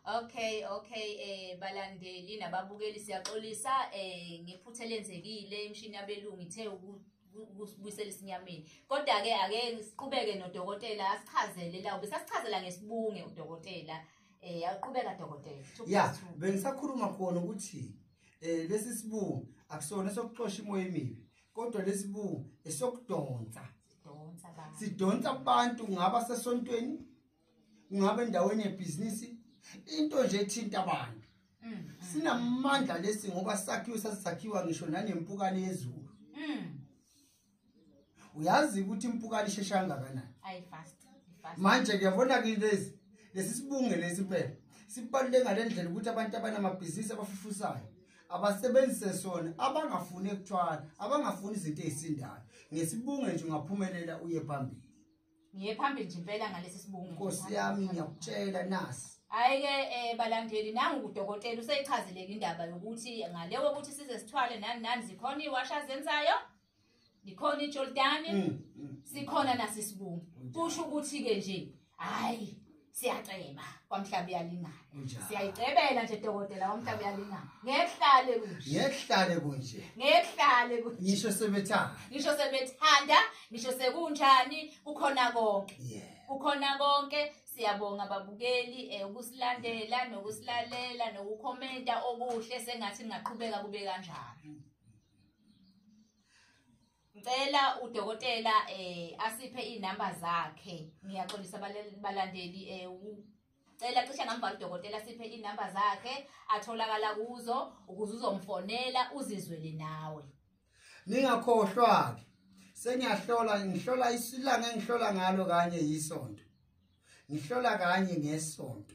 Okay okay eh balandeli nababukeli siyaxolisa eh ngephutha lenzekile imshini yabelungu ithe ukubuyisela isinyameni kodwa ke ake siqhubeke nodokotela asichazele la ubesasichazela ngesibunge udokotela eh yaqhubeka dokotela yeah bengisakhuluma khona ukuthi eh lesi sibungu akusona sokuxosha imoya emibi kodwa lesi bungu esokudonsa sidonsa abantu ngaba sesontweni ngabe endaweni yebhizinisi into nje ethinta abantu mm, mm. sinamandla lesi ngoba sakhiwe sasakhiwa ngisho nanempukane yezulu mm. uyazi ukuthi impukane ishesha kangakanani manje ngiyabona ke lezi lesi sibunge lesi impela sibaluleke ngale ndlela ukuthi abantu abanamabhizinisi abafufusayo abasebenzise sona abangafuni ekuthwala abangafuni izinto ezisindayo ngesibunge nje ungaphumelela uye phambili ngiye phambili nje impela ngalesi sibungu nkosi yami ngiyakutshela nasi hayi-ke um eh, balandeli nangu kudokotela useyichazeleke indaba yokuthi ngale wokuthi size sithwale nani nani zikhona iwasha zenzayo likhona ijordani mm, mm. sikhona nasisibungu kusho ukuthi-ke nje hhayi siyaceba kwamhlaba uyalingana siyayicebela nje dokotela kwamhlaba uyalingana ngehlale kunje ngehlale kunje ngehlale kunje ngisho sebethanda ngisho sebethanda ngisho sekunjani kukhona konke kukhona konke siyabonga babukeli eh, ukusilandela nokusilalela nokukhomenta okuhle sengathi ngaqhubeka kube kanjalo ngicela udokotela eh asiphe inamba zakhe ngiyaxolisa balandeli eh cela cishe ngambhala udokotela siphe inamba zakhe atholakala kuzo ukuze uzomfonela uzizwele nawe ningakhohlwa-ke sengiyahlola ngihlola isilanga engihlola ngalo kanye yisonto ngihlola kanye ngesonto